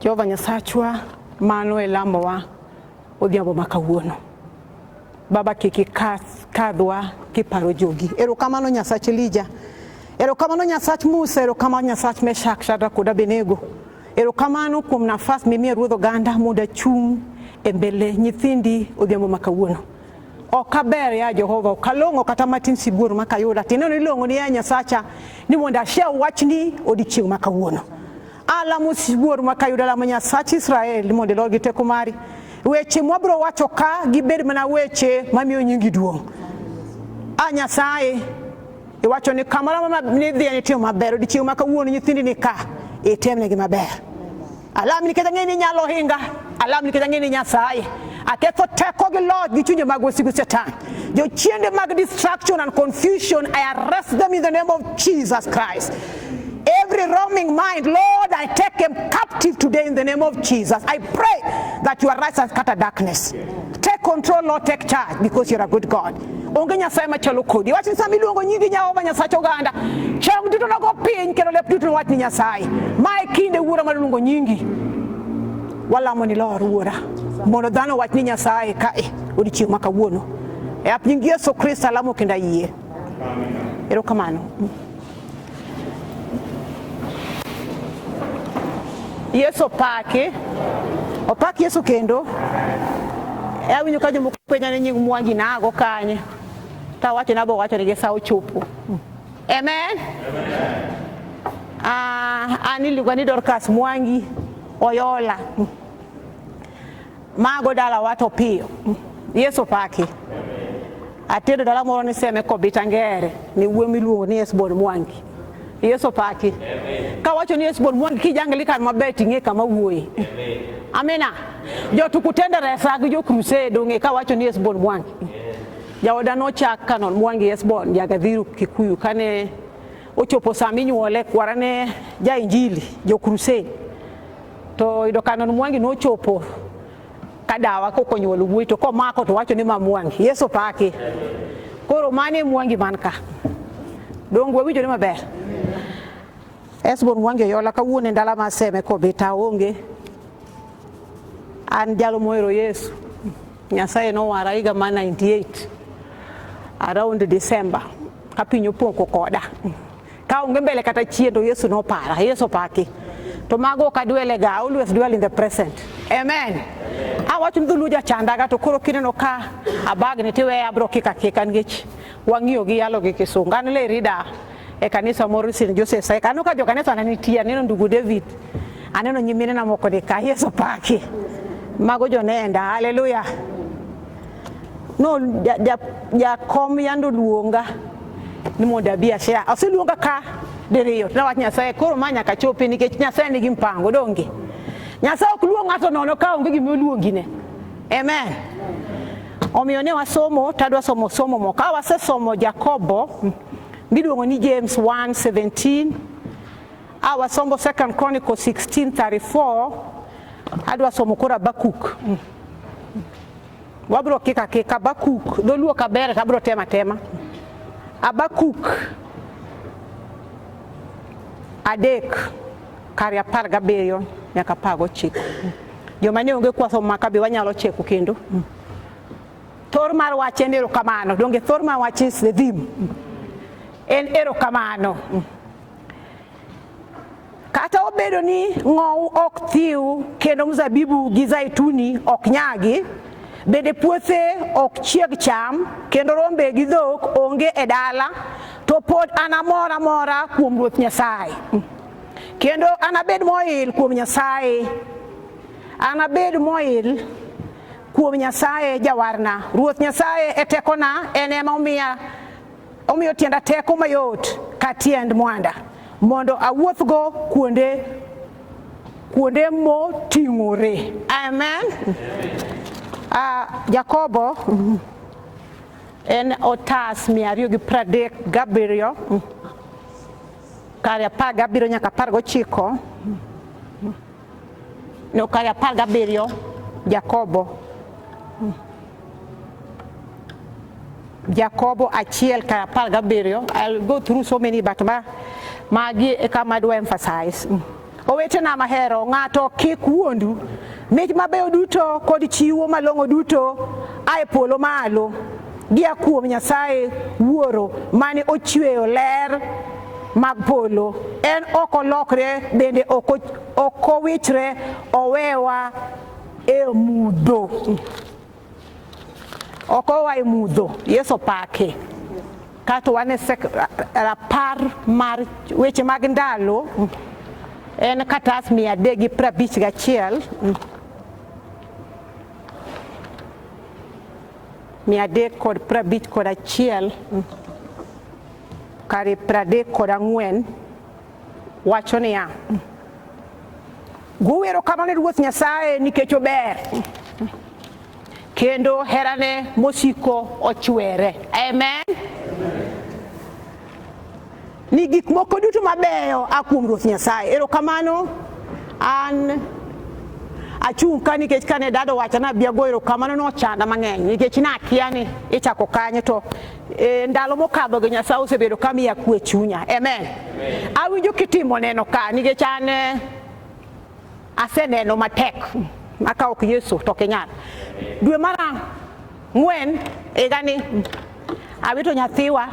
Jehova Nyasachwa, mano e lamowa odhiambo ma kawuono. Baba kik ikadhwa kiparo jogi. Erokamano Nyasach Elija. Erokamano Nyasach Musa, erokamano Nyasach Meshak, Shadrach kod Abednego. Erokamano kuom nafas mimiyo Ruodh oganda mondo achung' e mbele nyithindi odhiambo ma kawuono. Ok aber ya Jehova, ok along'o kata matin sibuor ma kayuda. Tineno ilong'o ni ya Nyasacha ni mondo ashia wachni odiechieng' ma kawuono. Alamo sibuor ma kayuda lamo Nyasach Israel ni mondo ilor gi teko mari. Weche mwabiro wacho ka gibed mana weche mamiyo nyingi duong'. A Nyasaye, iwacho ni kamoro ma nidhiye nitimo maber, odiechieng' ma kawuono nyithindi ni ka, itemnegi maber. Alam nikech ang'eyo ni inyalo hinga, alam nikech ang'eyo ni Nyasaye aketho teko gi loch gi chunje mag wasigu Satan. Jochiende mag distraction and confusion, I arrest them in the name of Jesus Christ. Every roaming mind, Lord, I take him captive today in the name of Jesus. I pray that you arise and scatter darkness. Take control, Lord, take charge because you're a good God. onge nyasaye machalo kodi wach ni sama iluongo nyingi jehova nyasach oganda chong duto nogo piny kendo lep duto nowach ni nyasaye ma e kinde wuora mar luongo nyingi walamo ni lor wuora mondo dhano wach ni nyasaye kae odiechieng' ma kawuono e ap nying yesu kristo alamo kendo ayie erokamano Yesu opaki, opak Yesu kendo. E awinjo ka jomoko penja ni nying Mwangi nago kanye, to awacho nabo wacho ni sa ochopo. Amen. Ah, an iluonga ni Dorcas Mwangi Oyola. mago dala wato piyo yesu paki atedo dala moro ni seme kobita ngere ni wuo miluongo ni esbon mwangi yesu paki kawacho ni esbon mwangi kijangili kan maber ting'e kama wuoye amina jotukutende resa gi jokrused ong'e kawacho ni esbon mwangi jaoda nochak kanon mwangi esbon jagadhiru kikuyu kane ochopo sama inyuole kwarane jainjili jokrused To oyudo Canon Mwangi nochopo ka dawa kokonyuol wuoyi to komako to wacho ni ma Mwangi. Yesu paki. Koro mane Mwangi man ka. Dongo winjo ni maber. Esbon Mwangi oyola kawuono e ndala ma seme kobita onge. An jalo mohero Yesu. Nyasaye nowara higa ma 98 around December ka piny opoko koda. Ka onge mbele kata chien to Yesu nopara, Yesu paki. To mago ok adwele ga, always dwell in the present. Amen. Awach ni dholuo jachandaga to koro kineno ka abagni tiweye abro kika kika nikech wang'iyo gi yalo gi kisungu. An le rida e kanisa moro sin Joseph Saik. Aneno ka jo kanisa ne nitie, aneno ndugu David. Aneno nyimine na moko ni ka Yesu paki. Mago jonenda. Hallelujah. No jakom yande oluonga ni mondo abi ashare. Oseluonga ka diriyo. Nawach Nyasaye koro ma nyaka chopi nikech Nyasaye nigi mpango donge. Nyasaye ok luong ng'ato nono ka onge gima oluongine. Amen. Omiyo ne wasomo tadwa somo somo mo. Ka wasesomo Jakobo miluongo ni James 1:17 a wasomo Second Chronicle 16:34 adwa somo koro Habakuk. Wabro kik akik Abakuk, dholuo kaber tabro tema tema. Abakuk adek kari apar gabiriyo nyaka apar gochiko. Joma ne onge kwaso maka be wanyalo cheko kendo. Thor mar wach en erokamano, donge thor mar wach is the theme. En erokamano. Kata obedo ni ng'owu ok thiw kendo mzabibu gi zaituni ok nyagi, bende puothe ok chieg cham kendo rombe gi dhok onge e dala, to pod anamor amora kuom Ruoth Nyasaye. Kendo anabed moil kuom Nyasaye, anabed moil kuom Nyasaye jawarna. Ruoth Nyasaye e tekona, en ema omiya Omiyo tienda teko mayot ka tiend mwanda mondo awuothgo kuonde kuonde moting'ore. Amen. Uh, Jakobo mm, en otas mia ariyo gi pradek gabiriyo mm, kare apar gabiriyo nyaka apar gochiko mm, mm. Nokaya apar gabiriyo Jakobo Jakobo achiel kar apar gabiriyo I'll go through so many but ma magi e kama adwa emphasize mm. Owetena mahero ng'ato kik wuondu mich mabeyo duto kod chiwo malong'o duto ae polo malo gia kuom Nyasaye wuoro mane ochweyo ler mag polo. En ok olokre bende ok owichre owewa e mudho. Ok owa e mudho. Yesu opake. Kato wan e rapar mar weche mag ndalo en katas mia adek gi prabich gachiel mia adek kod prabich kod achiel Kare pradek kod ang'wen wacho niya, guwero kamano ne Ruoth Nyasaye nikech ober kendo herane mosiko ochwere. Amen. Ni gik moko duto mabeyo a kuom Ruoth Nyasaye. Erokamano an achung' ka nikech kane dado wacha nabi ago erokamano nochanda mang'eny nikech nakia ni ichako kanye to E ndalo mokadho gi Nyasaye osebedo ka miya kwe chunya. Amen. Awinjo kitimo neno ka nikech an eh, aseneno matek maka ok Yesu to ok inyal. Dwe mar ang'wen higani awito nyathiwa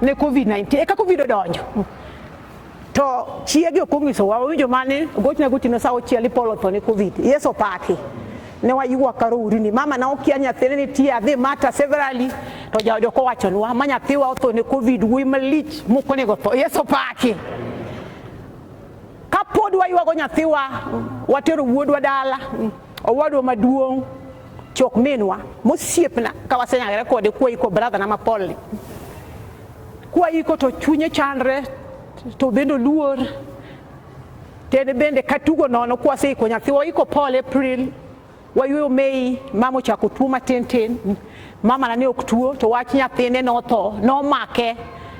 ne Covid-19 eka Covid odonjo. To chiege ok onyisowa, wawinjo mane gochna gotieno sa auchiel ipolo tho ni Covid. Yesu opaki. Ne wayuwa karo urini. Mama na okia nyathine nitie adhi mata severally to jaode ok owachonwa ma nyathiwa otho ne Covid wuoyi malich moko nego tho. Yesu opaki. Kapod wayuwago nyathiwa watero wuodwa dala. Owadwa maduong' chok minwa mosiepna ka wasenyagre kode kwa iko bradha na mapolni kwa iko to chunye chandre to bende oluor tene bende katugo nono kwa seiko nyathi waiko pol april wayueyo mei mama ochako tuo matin tin Mamana ne ok tuo to wach nyathine notho, nomake.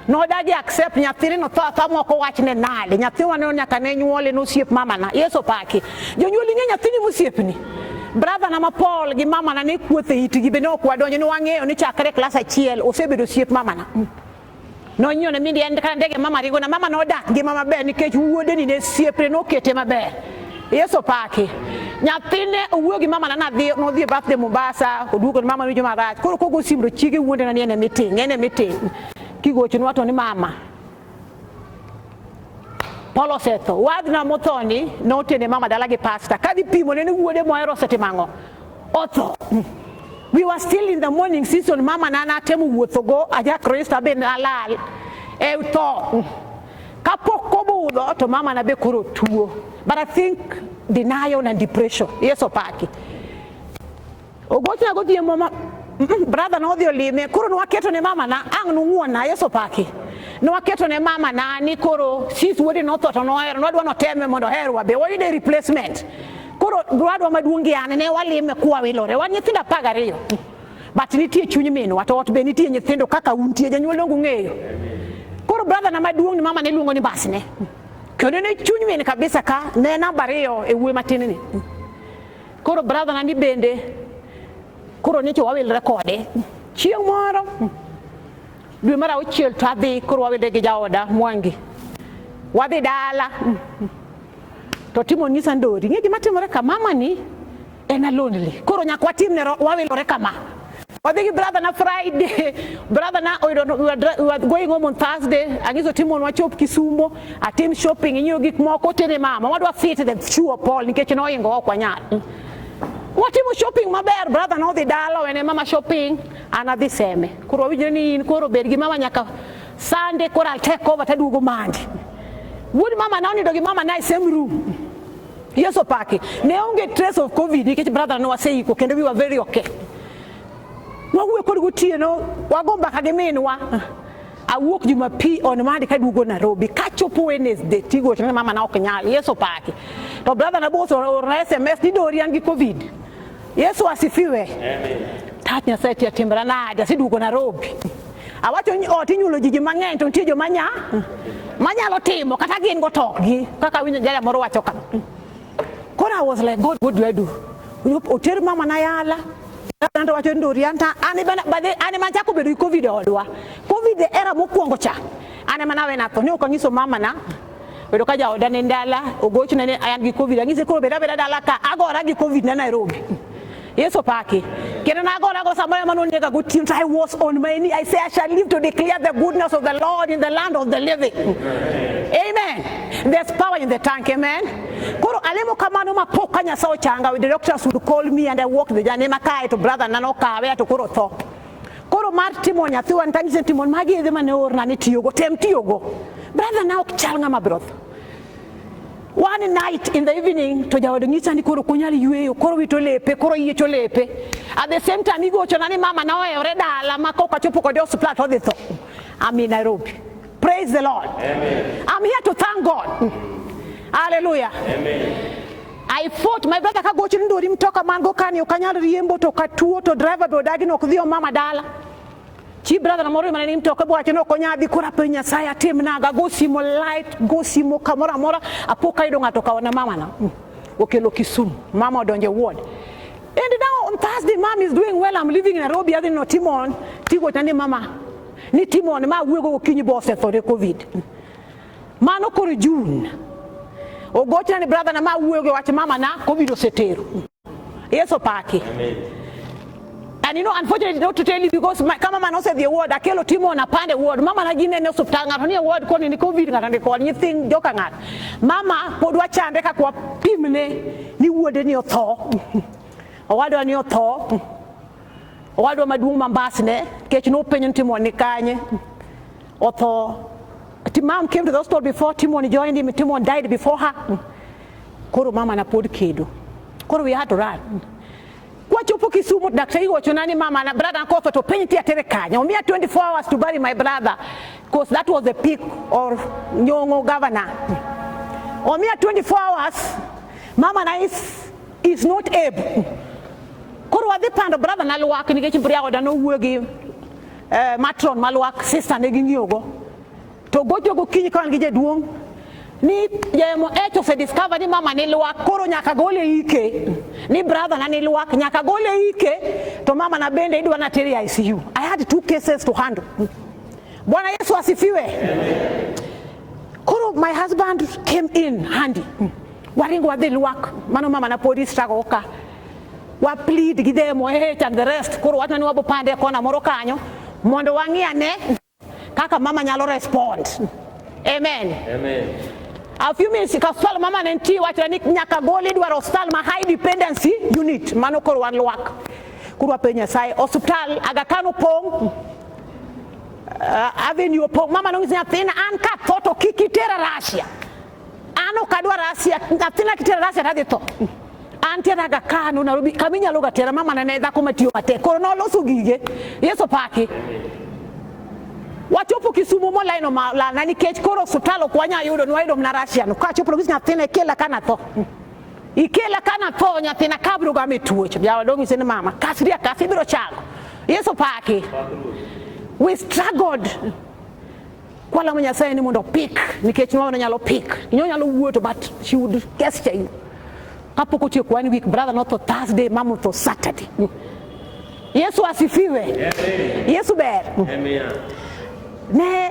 Nodagi accept nyathine no tho atha moko wachne nade. Nyathiwa ne nyaka ne nyuole nosiep mamana. Yesu paki. Jonyuol ing'e nyathini mosiepni. Brother na ma Paul gi mamana ne kuothe itgi be ne ok wadonjo ne wang'eyo ni chakre klas achiel osebedo osiep mamana. Mm. nonyone mi en kata ndege mama ringo na mama nodak ngima maber nikech wuodeni ne siepre nokete maber yesu paki nyathine owuoyo gi mama nana dhi nodhi e birthday mombasa oduogo ni mama winjo marach koro kogo simu to chiege wuonde na ni ene miting ene miting kigocho nwato ni mama Paul osetho wadna mothoni notene mama dala gi pasta kadhi pimo ne ni wuode mohero osetimo ang'o Otho. We were still in the morning season, mama na natemo wuothogo aja Kristo be nalal e tho. Kapok obudho to mama na be koro tuo. But I think denial and depression. Yes, opaki. Ogochna gotie mama brother na odhi olime koro nwaketo ne mama na ang' nung'wona yes opaki. Nwaketo ne mama na ni koro sis wuode notho to nohero nwadwa noteme mondo oherwa be wayude replacement. Koro dwadwa maduong' gi an ne walime kwa wilore, wan nyithindo apar gariyo but nitie chuny minwa to ot be nitie nyithindo kaka untie janyuol dongu ng'eyo. Koro brother na maduong' ni mama ne luongo ni basne kendo ne chuny min kabisa ka ne namba ariyo e wuoyi matin ni. Koro brother na ni bende koro nyicho wawilre kode chieng' moro dwe mar auchiel to adhi koro wawilre gi jaoda Mwangi wadhi dala to timo nyisa ndori ing'e gima timore ka mama ni en alonely koro nyaka watimne wawilore kama wadhi gi brother na friday brother na oyudo we are going home on thursday ang'iso timon wachop kisumo atim shopping inyiew gik moko tene mama wadwa fit the chuo pol nikech noingo ok wanyal watimo shopping maber brother nodhi dala wene mama shopping an adhi seme koro wawinjore ni in koro bed gi mama nyaka Sunday koro I'll take over taduogo mandi. Wuod mama na onindo gi mama na e same room. Yesu opaki. Ne onge trace of COVID nikech brother no waseiko kendo we were very okay. Wawuoyo kod gotieno wago mbaka gi minwa. Awuok Jumapili on Monday kaduogo Nairobi kachopo Wednesday tigo tena mama na ok nyal. Yesu opaki. To brother na boso or SMS ni dori an gi COVID. Yesu asifiwe. Amen. Tach Nyasaye tia timra nade aseduogo Nairobi. Awacho ni ot inyulo ji mang'eny to nitie joma nya manyalo timo kata gin go tokgi kaka winjo jaya moro wacho kama. Koro I was like God what do I do? Oter mama na yala Nando wacho ni Dorianta an bana bade an ema chako bedo gi covid odwa. Covid era mokwongo cha. An ema nawe natho ni ok anyiso mama na Oyudo ka jaoda ne ndala, ogochna ni an gi Covid, ang'ise koro bed abeda dala ka, agora gi Covid na Nairobi. Yesu paki. Kendo nagora go samoro ema nonega gotieno to I was on my knee. I say I shall live to declare the goodness of the Lord in the land of the living. Amen. There's power in the tank, amen. Koro alemo kamano ma pok ka Nyasaye ochanga, the doctors would call me and I walk the journey makae to brother nano kawe to koro tho. Koro mar timo nyathiwa nitanyise ni timon magi yedhe mane orna ni tiyogo tem tiyogo brother na ok chal ng'ama broth one night in the evening to jaodo nyisa ni koro ok onyal yueyo koro wito lepe koro yiecho lepe at the same time igochona ni mama na ohewore dala ma kok achopo kode e osiptal to odhi tho I'm in Nairobi Praise the Lord. Amen. I'm here to thank God. Mm. Hallelujah. Amen. I fought my brother kagochi ni ndori mtoka man go kani okanyal riembo to katuo to driver be odagi no kudhi mama dala. Chi brother na moro mane ni mtoka bwa chino konya dhi kura pe nyasaye atim naga go simo light go simo kamora mora apoka ido ngato kaona mama na. Mm. Okelo Kisumu. Mama odonje ward. And now on Thursday mom is doing well I'm living in Nairobi adhi no timon tigo tani mama ni timo ni ma wuogo gokinyi bo osethore covid mano koro jun ogochna ni brother na ma wuogo wach mama na covid osetero yeso paki Amen. And you know, unfortunately, not to tell you because my, kama mama nose the ward, akelo timo na pande ward. Mama na gine ne hospital ngato ni ward koni ni covid ngato ni koni thing joka ngat. Mama pod wachande ka kwa pimne ni wuode ni otho. Owadwa ni otho. Owadwa maduong' ma Mbasne, kech nopenjo ni Timon ni kanye, otho. Mom came to the hospital before Timon joined him, Timon died before her. Koro mama na pod kedo. Koro we had to run. Kwachopo Kisumu, daktari wacho nani mama na brother na kotho to penj ti atere kanye. Omiya 24 hours to bury my brother because that was the peak of Nyong'o governor. Omiya 24 hours, mama na is is not able koro wadhi pando brother na lwak nikech mbria oda nowuo gi eh, matron ma lwak sister ne ging'iyogo to gocho gokinyi ka wan gi jaduong' ni jayemo ech osediscover ni mama ni lwak koro nyaka gol e ike ni brother na ni lwak nyaka gol e ike to mama na bende idwa na ter e ICU I had two cases to handle Bwana Yesu asifiwe koro my husband came in handy waringo wadhi lwak mano mama na podi struggle ka wa plead gi them wahech and the rest koro wachno ni wabo pande kona moro kanyo mondo wang'i ane kaka mama nyalo respond amen, amen. A few minutes ka hospital mama ne nitie wachre ni nyaka gol idwaro hospital ma high dependency unit mano koro wan lwak koro wapenj nyasaye hospital Aga Khan opong' uh, avenue opong' mama nong'isi nyathina an ka tho to kik itera Russia an ok adwar asia nyathina kitera rasia to adhi tho an tiera ga kano narobi kama inyalo ga tera mama nene dhako matiyo matek koro noloso gige yesu paki wachopo kisumo molaino malana nikech koro osuptal ok wanya yudo nwayudo mna rasia no kachopo nogis nyathina ikela kana tho ikela kana tho nyathina kabiro ga me tuocho jawa dongi sen mama kasria kasi biro chango yesu paki we struggled Kwala mo Nyasaye ni mondo pik nikech mama ne nyalo pik. Inyo nyalo wuoto but she would gesture you. Kapok otieko one week brother not to Thursday mama to Saturday. Yesu asifiwe. Amen. Yesu ber. Amen. Ne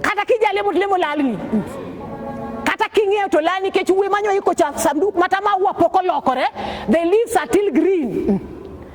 kata kijali mut lemo lalni. Kata king'eyo to lani kech uwe manyo iko cha sanduk mata maua poko lokore. The leaves are still green.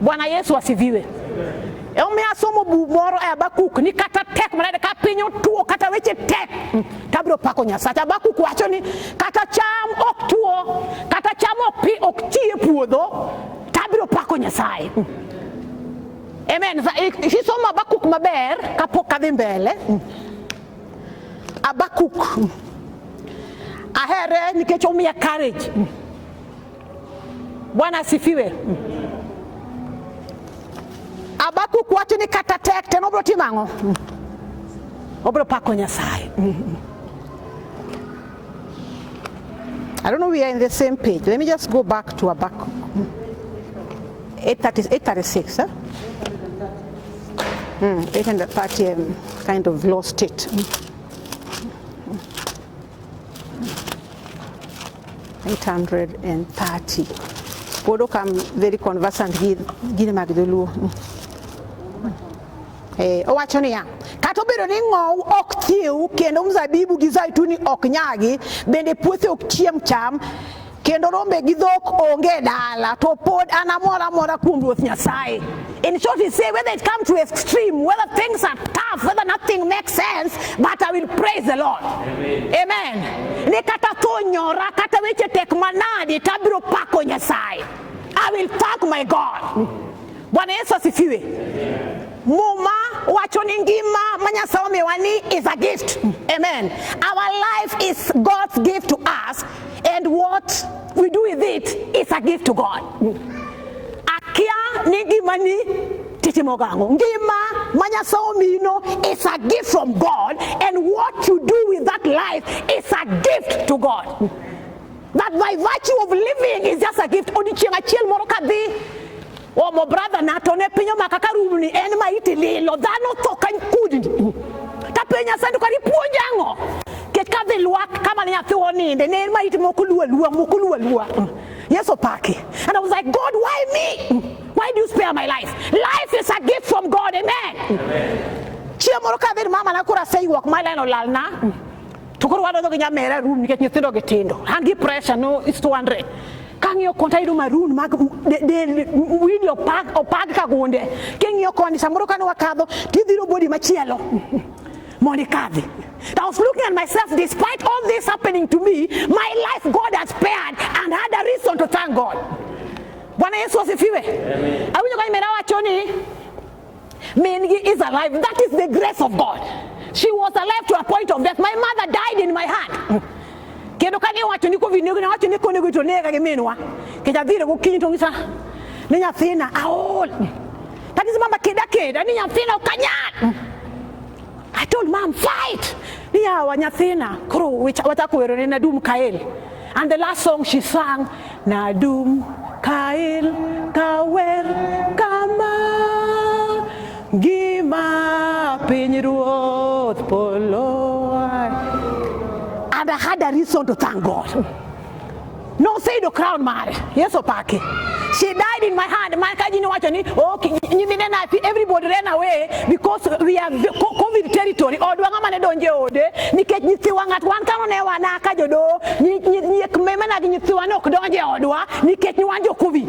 Bwana Yesu asifiwe. Omiyo asomo buk moro e Habakuk ni kata tek manade ka piny otuo kata weche tek tabiro pako Nyasacha. Habakuk wacho ni kata cham ok tuo, kata cham ok pi ok ti e puodho, tabiro pako Nyasaye. Amen. Kisomo Habakuk maber kapok adhi mbele. Habakuk ahere nikech omiya courage. Bwana asifiwe. Habakuk wacho ni kata tek ten obiro timo ang'o? Obiro pako Nyasaye. I don't know we are in the same page. Let me just go back to Habakkuk. 836, huh? Mm, 830, um, kind of lost it. Eight hundred and thirty. Pod ok am very conversant gi gini mag joluo. Eh, owacho niya kata obedo ni ng'owu ok thieu kendo mzabibu gi zaituni ok nyagi bende puothe ok chiem cham kendo rombe gi dhok onge e dala to pod an amor amora kuom ruoth nyasaye in short he say whether it come to extreme whether things are tough whether nothing makes sense but i will praise the lord amen, amen. ni kata tho nyora kata weche tek manadi tabiro pako nyasaye i will thank my god Bwana Yesu asifiwe. Muma wacho ni ngima ma Nyasaye omiwa ni is a gift. Amen. Our life is God's gift to us and what we do with it is a gift to God. Akia ni ngima ni titimo gango. Ngima ma Nyasaye omino is a gift from God and what you do with that life is a gift to God. That by virtue of living is just a gift. Odichieng' achiel moro kadhi omo brother na to ne piny omaka ka rum ni en ma iti lilo dhano tho ka kudni ta piny asando kari puonj ang'o kech ka dhi lwak kama ne nyathi oninde ne en ma iti moko luwa luwa moko luwa luwa mm. yes opaki and I was like God why me mm. why do you spare my life life is a gift from God amen, amen. chieng' moro ka dhi mama na koro aseyuok ma leno lalna mm. To koro wadonjo gi nyamera room nikech nyithindo gi tindo. An gi pressure no is 200. Kang'iyo konta yudo maroon mag del widi opag opag ka gunde. King'iyo koni samoro kane wakadho tidhiro body machielo. Mondi kadhi. I was looking at myself despite all this happening to me, my life God has spared and had a reason to thank God. Bwana Yesu asifiwe. Awinjo kani mera wacho ni Mingi is alive. That is the grace of God. She was alive to a point of death. My mother died in my hand. Kendo kane wacho ni covid nego wacho ni konego to nega gi minwa. Kenda dhire gokinyi to ngisa ni nyathina aol. That is mama keda keda ni nyathina okanyal. I told mom fight ni yawa nyathina koro wachako wero ne Nadum Kael and the last song she sang Nadum Kael kawer kama gima piny ruoth polo and I had a reason to thank God Noseyudo crown mare. Yesu opaki. She died in my hand. Man ka ji nowacho ni oh nyimine nathi everybody ran away because we are covid territory. Odwa ng'ama ne donje ode nikech nyithiwa ng'at wan kano ne wana ka jodo nyiek mema na gi nyithiwa ne ok donje odwa nikech ni wan jo covid.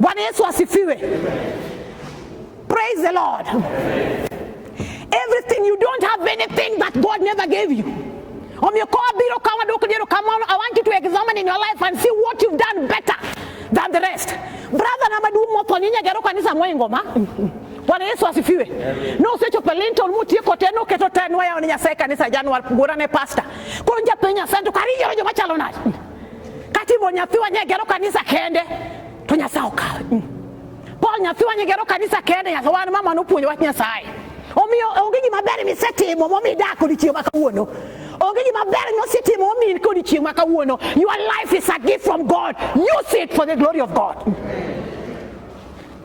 Bwana Yesu asifiwe. Praise the Lord. Everything you don't have anything that God never gave you. I want you to examine in your life and see what you've done better than the rest. Brother na madumu moto nyinyi gero kanisa mwengoma. Bwana Yesu asifiwe. No usecho pelinto mutie koteno keto tenwa ya kanisa January gurane pastor. Konja penya santo kariyo jo machalo nani. kati bo nyathiwa nyegero kanisa kende to nyasaye okawe mm. paul nyathiwa nyegero kanisa kende nyasaye wan mama nopuonjo wach nyasaye omiyo onge gima ber misetimo momi dak odiochieng' ma kawuono onge gima ber mosetimo momi kodiochieng' ma kawuono your life is a gift from god use it for the glory of god mm.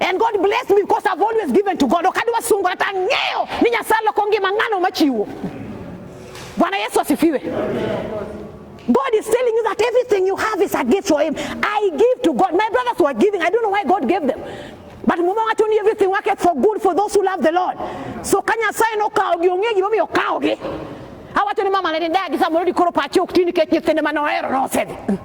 And God bless me because I've always given to God. Wakati wa sungu hata ngeo ni nyasalo kongi mangano machiwo. Bwana Yesu asifiwe. God is telling you that everything you have is a gift for him. I give to God. My brothers were giving. I don't know why God gave them. But mume watu ni everything work for good for those who love the Lord. So kanya sai no kaogi ongeji mami okaogi. Hawa tu ni mama lele dagi sa murudi koro pachi uktini kechi tende manoero no sedi.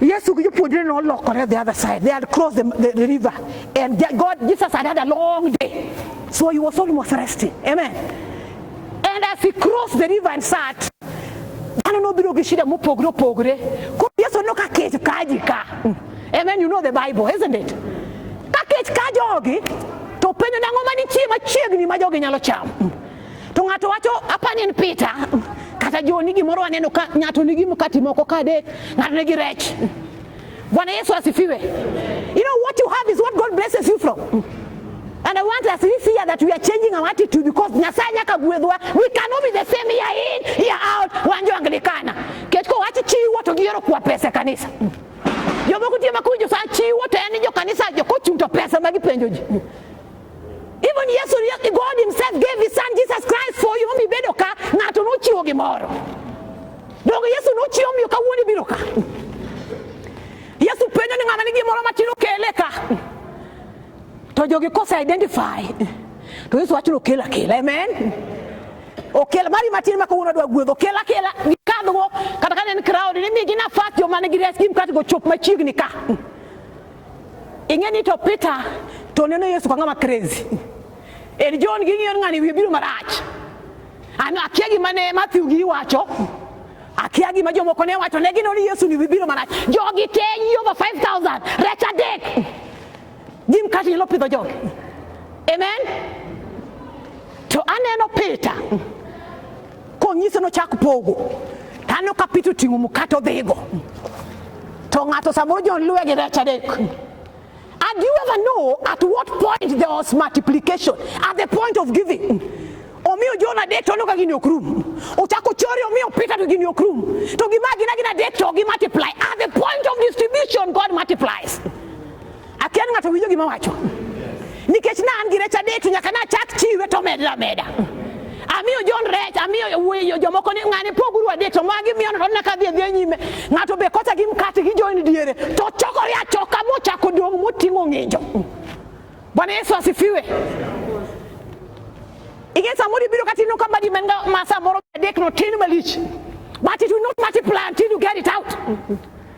Yesu gi jopuonjre ne olokore the other side. They had crossed the, the, the river. And God, Jesus had had a long day. So he was almost resting. Amen. And as he crossed the river and sat, dhano nobiro gi shida mopogre opogre. Koro Yesu no ka kech kaji ka. Hmm. Amen. You know the Bible, isn't it? Ka kech ka jogi, to penjo nang'o manitie machiegni ma jogi nyalo chamo. Hmm. To ng'ato wacho apani en Peter kata joni gimoro waneno ka ng'ato nigi mkati moko ka adek, ng'ato nigi rech. Bwana Yesu asifiwe. You know what you have is what God blesses you from. And I want us this year that we are changing our attitude because Nyasaye nyaka gwedhwa. We cannot be the same year in, year out. Wanjo anglikana. Ketko wachi chiwo to giyoro kwa pesa kanisa. Jomoko tie makujo sa chiwo to en jo kanisa jo kochung to pesa ma gipenjo ji. Even Yesu God himself gave his son Jesus Christ for you mi bedo ka ng'ato nochiwo gimoro. Donge Yesu nochiwo miyo kawuono ibiro ka. Yesu penjo ni ng'ama ni gimoro matin okele ka. To jogi kose identify. To Yesu wacho okel akela. Amen. Okel mari matin ma kawuono dwa gwedho okel akela gikadhgo kata ka en crowd ni migi nafas joma nigi res gi mkate go chop machiegni ka. Ing'eni to Peter to neno Yesu ka ng'ama crazy. En John gi ng'iyo ng'ani wiye biro marach. Ano akia gima ne Matthew gi wacho. Akia gima jomoko ne wacho ne ginoni Yesu ni biro marach. Jogi te yi over 5000 rech adek. Jim kati nyalo pidho jogi. Amen. To aneno Peter. Konyise nochak pogo, taneno ka Peter oting'o mkate odhigo, to ng'ato samoro John luwe gi rech adek. And you ever know at what point there was multiplication? At the point of giving. omiyo John adek to oneno ka gini ok rum. Ochako chori omiyo Peter to gini ok rum. To gima gina gina adek to gi multiply. At the point of distribution God multiplies. Akia ni ng'ato winjo gima wacho. Nikech ne an gi rech adek to nyaka nachak chiwe to omedra ameda. Amiyo John rech, amiyo wuoyo jomoko ni ng'ane poguru adek to magi miyo nono na kadhi adhi nyime. Ng'ato be kota gi mkate gi join diere to chokore achoka mochako dong' moting'o ng'injo. Bwana Yesu asifiwe. Ing'e samoro ibiro kata ineno ka badi man ga ma samoro adek no tin malich. But it will not multiply until you get it out.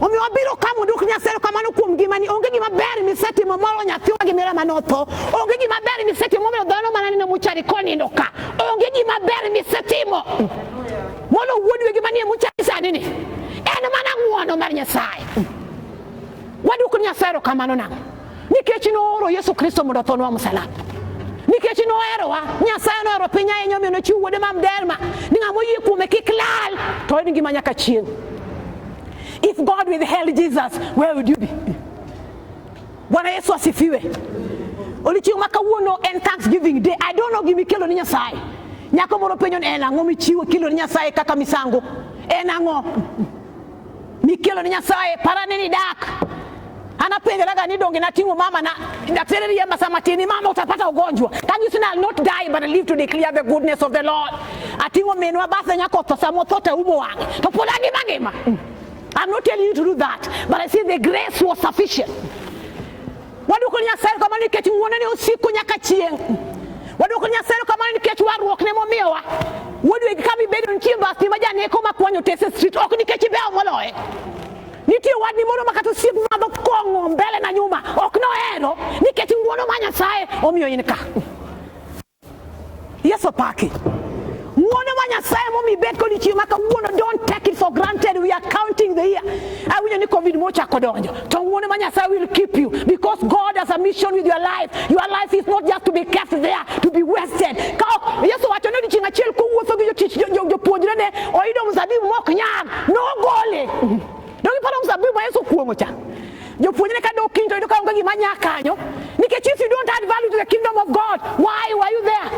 omiyo wabiro ka mondo ok nyasero kamano kuom ngimani onge gima ber misetimo moro nyathiwa gi mera mane otho onge gima ber misetimo momiyo dhano mana neno muchari konindo ka onge gima ber misetimo mono wuod wegi manie muchari sani ni en mana ng'wono mar nyasaye waduoko ni nyasaye erokamano nang'o nikech nooro Yesu Kristo mondo othonwa msalaba nikech noherowa nyasaye nohero piny ahinya omiyo nochiwo wuode ma mdelma ni ng'ama oyie kuome kik lal to en ngima nyaka chieng' if god withheld jesus where would you be bwana yesu asifiwe odiochieng' ma kawuono en thanksgiving day i don't know gima ikelo ni nyasaye nyako moro penjo ni en ang'o michiwo kilo ni nyasaye kaka misango en ang'o Mikelo ni Nyasaye parane ni dak anapenjeraga ni donge nating'o mama na daktari riemba sama tini mama utapata ugonjwa can you say I'll not die but I live to declare the goodness of the Lord ating'o minwa bathe nyako tho sama otho to umo wang'e to pod angima ngima I'm not telling you to do that but I say the grace was sufficient Waduoko ni Nyasaye kamano nikech ng'wone ne osiko nyaka chieng'. Waduoko ni Nyasaye kamano nikech warruok ne momiyowa. Wuodwe ka bibedo nitie mbasni ma janeko ma kwanyo tese street ok nikech ibewo moloye. Nitie wadni moro ma kata osiep madho kong'o mbele na nyuma ok nohero nikech ng'wono ma Nyasaye omiyo in ka. Yesu paki. Ng'wono ma Nyasaye momi bet kod chieng' ma kawuono don't take it for granted we are counting the year. Awinjo ni covid mochako donjo to ng'wono ma Nyasaye will keep you because God has a mission with your life. Your life is not just to be kept there to be wasted. Ka ok Yesu wacho ni odiechieng' achiel kowuotho gi jotich jopuonjrene oyudo mzabibu mok nyag nogole. Donge iparo mzabibu ma Yesu kuong'o cha? Jopuonjre ka dok kiny to yudo ka onge gima nya kanyo nikech if you don't add value to the kingdom of God, why were you there?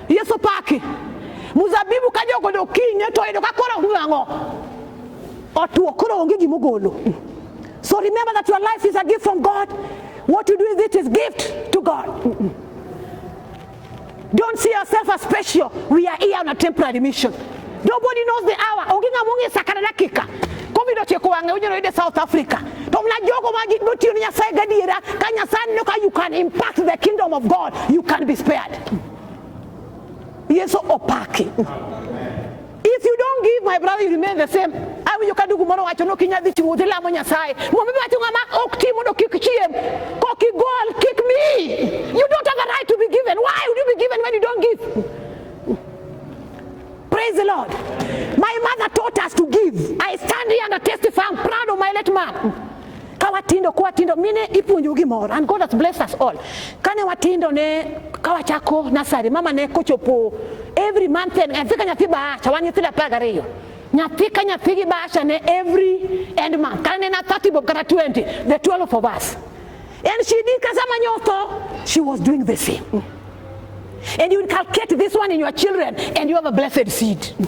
Yesu paki. Muzabibu ka jogo dok kiny to yudo ka koro ng'ang'o. Otuo koro onge gima ogolo. So remember that your life is a gift from God. What you do with it is gift to God. Don't see yourself as special. We are here on a temporary mission. Nobody knows the hour. Onge ng'ama ong'e saa kata dakika. Covid otieko wang'e onyalo yude South Africa. To mna jogo ma gitiyo ne Nyasaye gadiera ka Nyasaye neno ka you can impact the kingdom of God, you can be spared. Yesu opaki. If you don't give my brother you remain the same. Awinjo ka dugu moro wacho no kinya dhi chiwo dhi lamo Nyasaye. Mumbi wacho ng'ama ok ti mondo kik chiem, kok igol, kik mi. You don't have a right to be given. Why would you be given when you don't give? Praise the Lord. My mother taught us to give. I stand here and I testify. I'm proud of my late mom. ka watindo kwa tindo mine ipuonjo gimoro and God has blessed us all kane watindo ne ka wachako nasari mama ne kochopo every month and nyathi ka nyathi bahasha wan nyithindo apar gariyo nyathi ka nyathi gi bahasha ne every end month kane ne na 30 bob kata 20 the 12 of us and she did kasama nyotho she was doing the same mm. and you inculcate this one in your children and you have a blessed seed mm.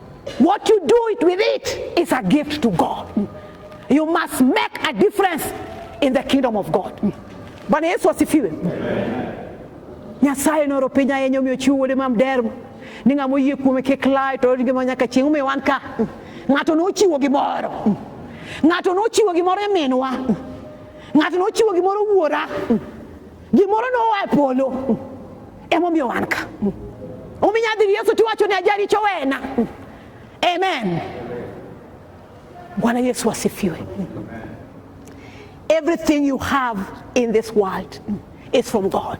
What you do it with it is a gift to God. You must make a difference in the kingdom of God. Bwana Yesu asifiwe. Nyasaye noro piny ahinya omiyo chiwo wuode ma mderma ni ng'ama oyie kuome kik lal to orit ngima nyaka chieng' omiyo wan ka ng'ato nochiwo gimoro ng'ato nochiwo gimoro e minwa ng'ato nochiwo gimoro wuora gimoro noa e polo emomiyo wan ka ominya dhi yesu tiwacho ni ajaricho wena amen bwana yesu asifiwe everything you have in this world is from god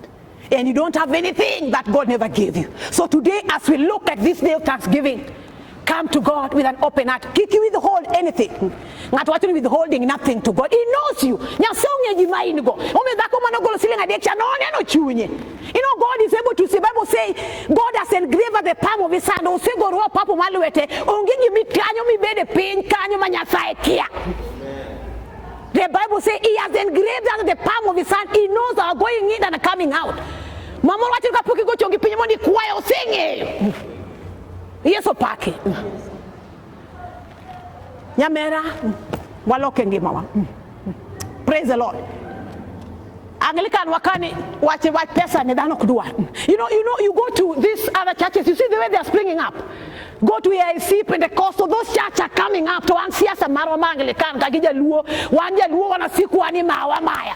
and you don't have anything that god never gave you so today as we look at this day of thanksgiving Come to God with an open heart. Kik withhold anything. Ng'ato wacho ni withholding nothing to God. He knows you. Nyasaye ong'e gima in go. Omiyo dhako mane ogolo siling adek cha noneno chunye. You know God is able to see. Bible say God has engraved the palm of his hand. Osegoro opapo mar lwete. Onge gima ikanyo mibede piny kanyo ma Nyasaye kia. The Bible say he has engraved under the palm of his hand. He knows our going in and coming out. Mama wacho kapok igochongi piny mondo ikwayo oseng'eyo. Yesu paki. Nyamera waloke ngimawa. Praise the Lord. Anglican wakani wache wach pesa ni dhano kudwa. You know, you know, you go to these other churches, you see the way they are springing up. Go to AIC, Pentecostal, those churches are coming up to an siasa marwa ma Anglican ka gijaluo, wan jaluo wanasiku ani mawa maya.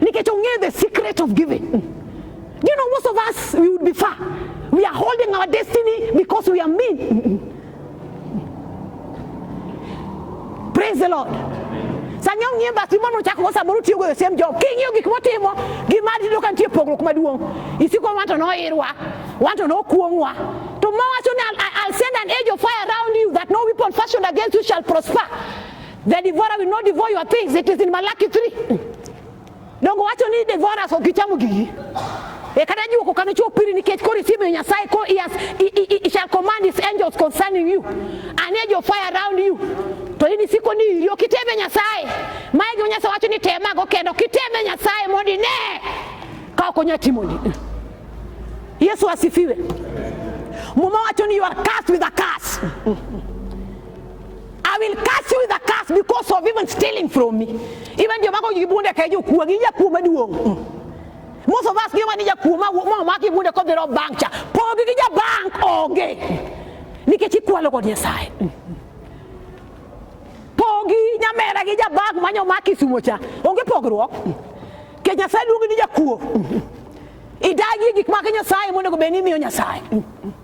Nikech ong'eyo the secret of giving. Do you know most of us we would be far. We are holding our destiny because we are mean. Praise the Lord. Sanyo ng'iye bas gimoro nochako go samoro tiyo go the same job. King'iyo gik motimo gi mari tiyudo ka nitie pogruok maduong'. Isiko wan to noirwa, wan to nokuong'wa. To mawacho ni I'll, I'll send an edge of fire around you that no weapon fashioned against you shall prosper. The devourer will not devour your things. It is in Malachi 3. Dongo wacho ni devourers ok gichamo gigi. E kata jiwo kokano chuo piri nikech koro isimo Nyasaye ko he has he, he, he shall command his angels concerning you. An edge of fire around you. To in isiko ni iri ok iteme Nyasaye. Mae gima Nyasaye wacho ni temago kendo ok iteme Nyasaye mondo ine ka ok onya timoni. Yesu asifiwe. Muma wacho ni you are cursed with a curse. I will curse you with a curse because of even stealing from me. Even your mama you bunde kaje kuwa gija kuma duo. Mm. Most of us give money ya kuma mama maki bunde ko dero bank cha. Po gija bank oge. Nikechi kwa logo ni sai. Mm. Pogi nyamera gija bank manyo maki sumo cha. Onge pogruok. Mm. Ke nyasaye luongi ni jakuo. Idagi gik ma Nyasaye monego bed ni imiyo Nyasaye.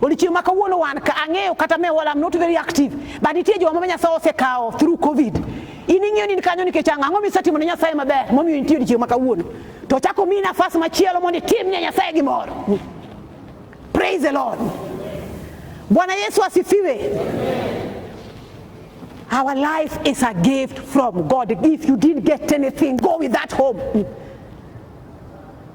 Odiochieng' ma kawuono wan ka ang'eyo kata me wala I'm not very active but nitie joma ma Nyasaye osekawo through covid in ing'eyo ni in kanyo nikech ang'o ang'o misetimo ne Nyasaye maber momiyo nitie odiochieng' ma kawuono to ochako miyi nafas machielo mondo itim ne Nyasaye gimoro praise the Lord Bwana Yesu asifiwe Our life is a gift from God. If you didn't get anything, go with that home.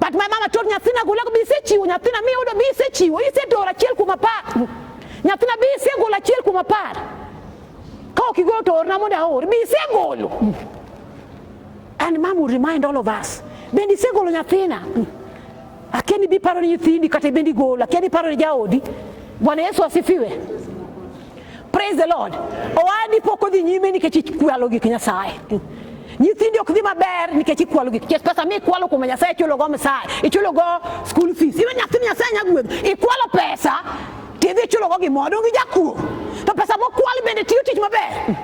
Patma mama tot nyathina gola ko bise chiwo nyathina mi udo bise chiwo ise dora chiel kuma pa nyathina bise gola chiel kuma par ka ok igolo to orna mondo aor bise golo and mama will remind all of us bende ise golo nyathina akia ni biparo ni nyithindi kata bende igolo akia ni paro ni jaodi bwana yesu asifiwe Praise the Lord. Owadi pok odhi nyime nikech ikwalo gik Nyasaye. Nyithindi ok dhi maber nikech ikwalo gik Nyasaye. Pesa mi ikwalo kuom Nyasaye ichulo go msae, ichulo go school fees. Iwe nyathi Nyasaye nyagwedho, ikwalo pesa tidhi ichulo go gimoro, donge jakuo. To pesa mokwal bende tiyo tich maber.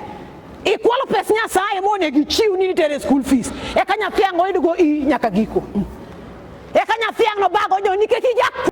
Ikwalo pes Nyasaye monego ichiw ni nitere school fees. Eka nyathi ang' oyudgo i nyaka giko. Eka nyathi ang' nobago jo nikech ijakuo.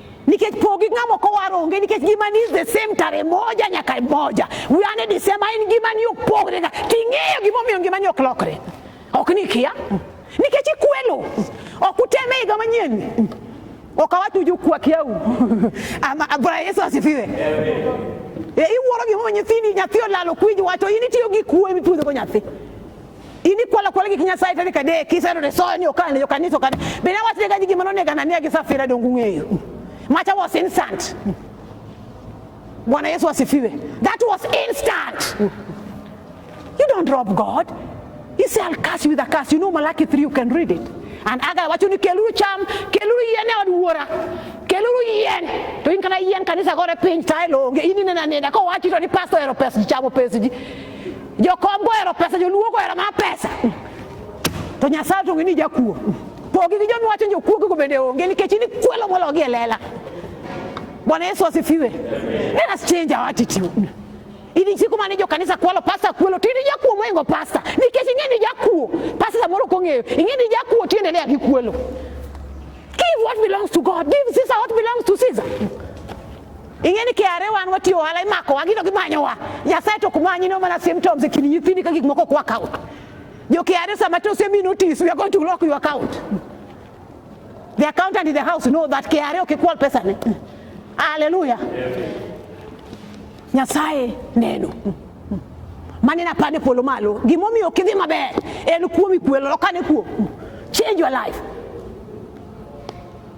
nikech pogi ng'amo kowar onge nikech ngimani is the same tare moja nyaka moja we are the same in ngimani ok pogre ga ting'eyo gimomiyo ngimani ok lokre ok ni kia nikech ikwelo ok uteme higa manyien ok awach uju kwa kiau bwana yesu asifiwe e, iwuoro gimomiyo nyithindi nyathi olalo kwinj wacho in itiyo gi kuwe mipudhogo nyathi ini kwala kwala ki kinyasa itani kade kisa no so ni okane yo kaniso kane bina wati ga jigi manone kana ne kisa fira dongu ngeyo macha was instant Bwana Yesu asifiwe that was instant you don't drop God he say I'll curse you with a curse you know Malachi 3 you can read it and aga wacho ni keluru cham keluru yene od wuora keluru yien to in kana yien kanisa gore piny taelo onge ini nena nena ko wachi to ni pastor ero pes chamo pes ji Jokom gohero pesa, joluo gohero ma pesa. To Nyasaye to ng'eni jakuo. Pogi gi joma wacho jokuo gigo bende onge nikech in ikwelo mologi e lela. Bwana Yesu asifiwe. Let us change our attitude. Ili siku mane jo kanisa kwalo pasta kwelo tini jakuo moingo pasta nikech ing'eni jakuo pasta samoro kong'eyo ing'eni jakuo tiendelea gi kwelo. Give what belongs to God. Give Caesar what belongs to Caesar. Ing'e ni KRA wan watiyo ohala imakowa gino gimanyowa. Nyasaye to ok manyi no mana symptoms e kind nyithindi ka gik moko ok wakawo. Jo KRA sama to osemi notice we are going to lock your account. The accountant in the house know that KRA ok ikwal pesa ne. Hallelujah. Nyasaye neno. Mane na pande polo malo. Gimomiyo ok idhi maber en kuomi kwelo lokane kuom. Change your life.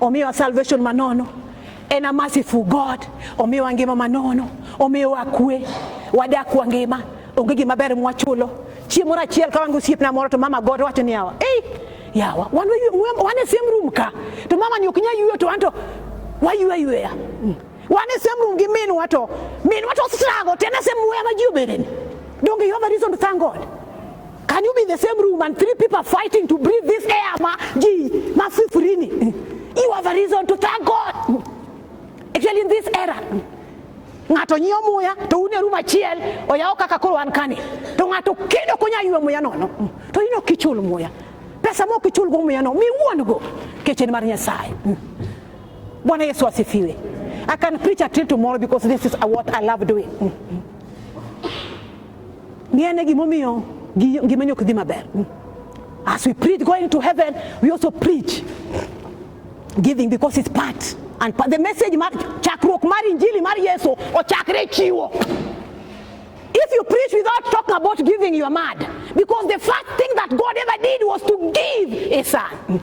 Omiwa salvation manono. En a merciful God. Omiwa ngima manono. Omiwa kwe. Wadak wa ngima. Onge gima ber mwachulo. Chieng' moro achiel ka wango osiepna moro to mama God wacho ni yawa. Ei, yawa. Wan wan e same room ka. To mama ni ok nyal yueyo to anto wayueyo yueya. Mm. Wan e same room gi minwa to minwa to struggle tena same wema ji obedeni. Donge you have a reason to thank God? Can you be in the same room and three people fighting to breathe this air ma ji mafifurini? You have a reason to thank God. Actually in this era ng'ato nyiewo muya to un e rum achiel oyawo kaka koro wan kani to ng'ato kendo konya ywe muya nono to in ok ichul muya pesa ma ok ichulgo muya no miwuon go kech en mar Nyasaye. Bwana Yesu asifiwe. I can preach until tomorrow because this is what I love doing. Ng'i ane gimomiyo ngimani ok dhi maber. As we preach going to heaven, we also preach giving because it's part and part. the message mar chakruok mar injili mar Yesu ochakre chiwo. If you preach without talking about giving, you are mad. Because the first thing that God ever did was to give a son.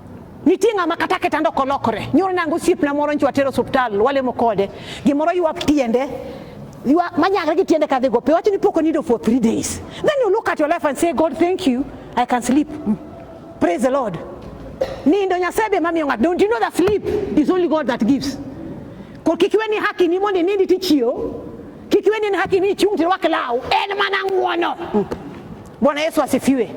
Nitie ng'ama kata kitanda ok olokore. Nyoro nango osiepna moro nyiwa tero osiptal, walemo kode. Gimoro ywak tiende, ywak manyagre gi tiende kadhi go pe. Wacho ni pok onindo for three days. Then you look at your life and say, God, thank you. I can sleep. Mm. Praise the Lord. Nindo Nyasaye be mamiyo ng'ato. Don't you know that sleep is only God that gives? Ko kik iwe ni haki ni mondo inindi tichiew. Kik iwe ni en haki ni ichung' tirwak law. En mana ng'wono. Mm. Bwana Yesu asifiwe.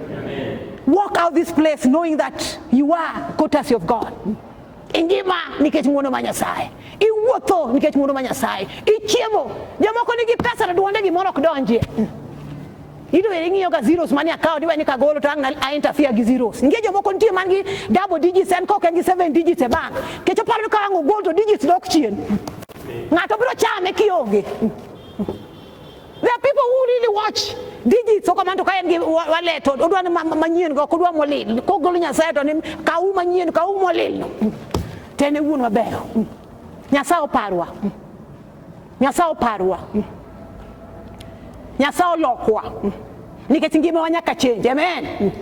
Walk out this place knowing that you are courtesy of God. Ingima nikech ng'wono ma Nyasaye. Iwuotho nikech ng'wono ma Nyasaye. Ichiemo. Jomoko nigi pesa to duonde gimoro ok donjie. Ito ere ng'iyo ka zeros mani akawo tiwe ni kagolo to ang' a interfere gi zeros. Ngie jomoko nitie man gi double digits en kok en gi seven digits e bank. Kech oparo ni ka ang' ogol to digits dok chien. Ng'ato biro chame kionge. There are people who really watch digits oko man to ka en gi wallet odwa ni manyien go kodwa molil kogolo nyasaye to ni kawu manyien kawu molil to en e wuon maber nyasaye oparwa nyasaye oparwa nyasaye olokwa nikech ngimawa nyaka change amen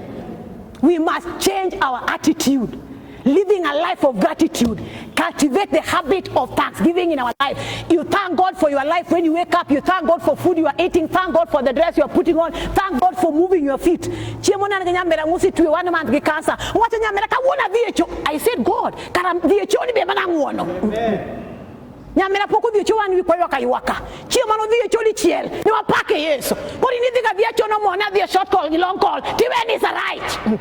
we must change our attitude Living a life of gratitude. Cultivate the habit of thanksgiving in our life. You thank God for your life when you wake up. You thank God for food you are eating. Thank God for the dress you are putting on. Thank God for moving your feet. Chiemona nga nyamera ngusi tuwe one month gi cancer. Wacha nyamera ka wona VHO. I said God, kara VHO ni be mana nguono. Nyamera poko VHO wan wi kwayo kayuaka. Chiemano VHO li chiel. Ni wapake Yesu. Kori ni dhiga VHO no mona VHO short call gi long call. Tiwe ni sa right.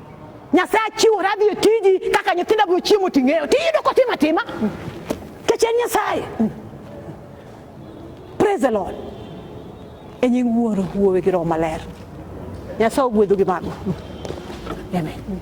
Nyasaye achiwora adhi e tiji kaka nyithinda biro chiemo ting'eyo tiyudo kotima tima kech en Nyasaye. Praise the Lord. E nying wuoro wuowe gi roho maler. Nyasaye ogwedhu gi mago. Amen.